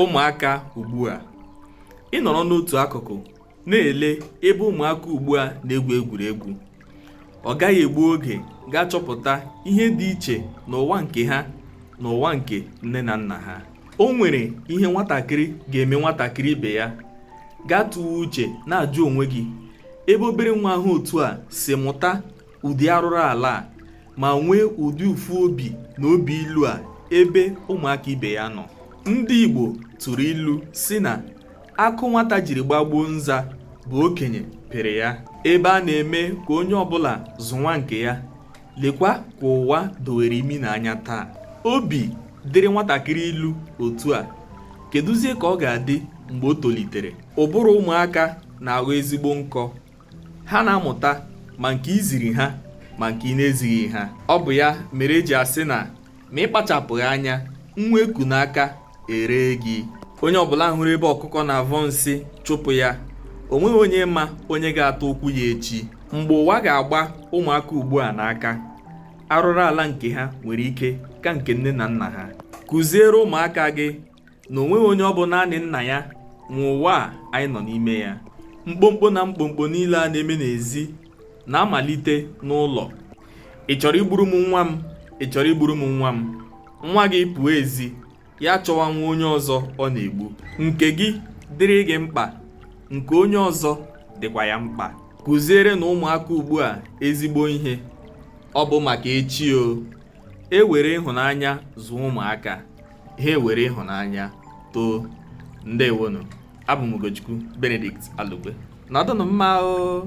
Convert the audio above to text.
ụmụaka ugbu a ị nọrọ n'otu akụkụ na-ele ebe ụmụaka ugbu a na-egwu egwuregwu ọ gaghị egbu oge gị achọpụta ihe dị iche n'ụwa nke ha na ụwa nke nne na nna ha o nwere ihe nwatakịrị ga-eme nwatakịrị ibe ya gị atụwa uche na-ajụ onwe gị ebe obere nwa ha otu a si mụta ụdị arụrụ ala a ma nwee ụdị ụfụ obi na obi ilu a ebe ụmụaka ibe ya nọ ndị Igbo tụrụ ilu sị na akụ nwata jiri gbagbuo nza bụ okenye pịrị ya ebe a na-eme ka onye ọbụla zụọ nwa nke ya lekwa ka ụwa dowere imi na anya taa obi dịrị nwatakịrị ilu otu a keduzie ka ọ ga-adị mgbe o tolitere ụbụrụ ụmụaka na-aghọ ezigbo nkọ ha na-amụta ma nke i ziri ha ma nke ị na-ezighị ha ọ bụ ya mere e ji asị na ma ị kpachapụghị anya nwa e ku n'aka eree gị onye ọbụla hụrụ ebe ọkụkọ na-avọ nsị chụpụ ya o nweghị onye ma onye ga-ata ụkwụ ya echi mgbe ụwa ga-agba ụmụaka ugbu a n'aka arụrụ ala nke ha nwere ike ka nke nne na nna ha kụziere ụmụaka gị na o nweghị onye ọ bụ naanị nna ya nwe ụwa a anyị nọ n'ime ya mkpomkpo na mkpomkpo niile a na-eme n'ezi na-amalite n'ụlọ ị chọrọ igburu m nwa m ị chọrọ igburu m nwa m nwa gị pụọ ezi ya chọwa nwa onye ọzọ ọ na-egbu nke gị dịrị gị mkpa nke onye ọzọ dịkwa ya mkpa kụzierenụ ụmụaka ugbu a ezigbo ihe ọ bụ maka echi o e were ịhụnanya zụọ ụmụaka ha ewere ịhụnanya too ndewonụ abụ m Ugochukwu Benedict Alugbe nọdụnụ mma o